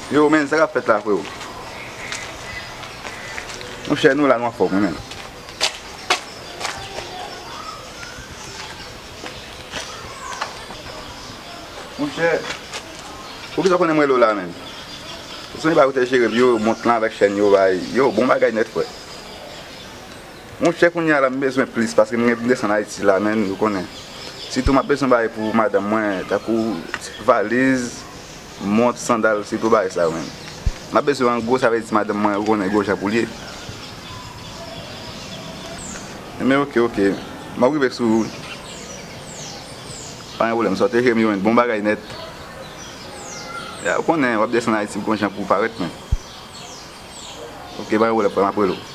Yo men sa kap fèt la freo. Mon chè nou la nou anfòm wi men. Mon chè. Pou kisa konnen mwen lo la men. Soni pa ou te jere m yo mont lan avèk chèn yo bay. Yo bon bagay nèt frè. Monchè kounya la m bezwen plis paske m gen pou m desann Ayiti la men ou konnen. Sitou m ap bezwen bagay pou madanm mwen tankou valiz, mont, sandal sitou bagay sa yo menm. M ap bezwen an gwo sa vle di madanm mwen ou konnen gwo jan pou l ye. Enben ok ok m ap rive sou ou. Pa gen pwoblèm sa w te jere m jwenn bon bagay nèt. Ya ou konnen w ap desann Ayiti gwo jan pou w parèt men. Ok pa gen pwoblèm frè m ap rele w.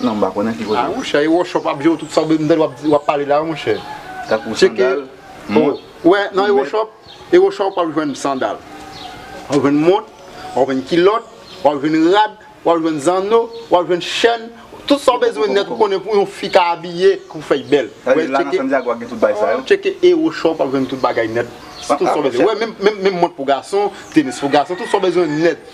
Non m pa konnen ki kote. Ah monchè e wòchòp ap jew tout sa bndèl wap pale la monchè. Tankou sandal, mont, lunettes. Nan e wòchòp, e wòchòp wap jwenn sandal, wap jwenn mont, wap jwenn kilòt, wap jwenn rad, wap jwenn zanno, wap jwenn chèn, tout sa w bezwen nèt ou konnen pou yon fi ka abiye pou fèy bèl. Sa vle di la nan San Diago a gen tout bagay sa yo? Tcheke e wòchòp wap jwenn tout bagay nèt. Tout sa w bezwen. Menm mont pou gason, tenis pou gason, tout sa w bezwen nèt.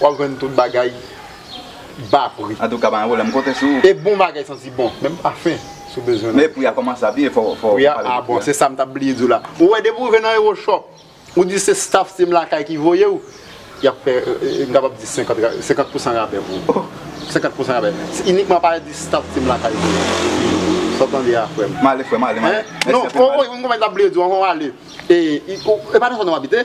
Wap jwenn tout bagay ba pri. Antouka pa gen pwoblèm konte sou ou. E bon bagay santi bon menm pafen si w bezwen nan. Men pri a kòmanse a pi e fò fò pale de pri a. Pri a a bon se sa m tap bliye di w la. Ou wè depi w rive nan Euro Shop ou di se staff Team Lakay ki voye w yap fè m kapab di 50 pousan rabè pou ou. 50 pousan rabè se inikman pale di staff Team Lakay voye m. Sa w tande a frè m. M ale frè m ale m ale. Hein non ou wè yon konpany m tap bliye di w ankò m ale e pa nan zòn ou abite?